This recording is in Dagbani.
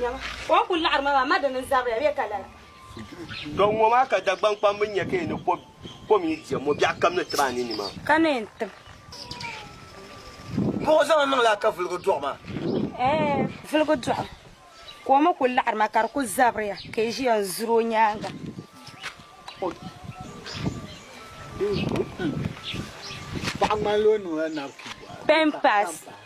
Nyama, ka o kul laɣiri ma maa, ma di ni zabiri ya bee ka lala? Tɔ! Ŋɔ maa ka Dagbaŋ kpamba nya ka yi ni kɔb kom yi diɛm ŋɔ, biɛɣu kam ni ti ba a ninni maa. Ka ni yɛn tim. Buɣi zaŋ niŋ laa ka vuligu dɔɣi ma. Ɛɛh, vuligu dɔɣi o, ka o mi kul laɣiri ma ka di kul zabiri ya ka yi ʒiya n-zuri o nyaaŋa. Paɣa ŋmanila o niŋla napin pɔhira. Pampers.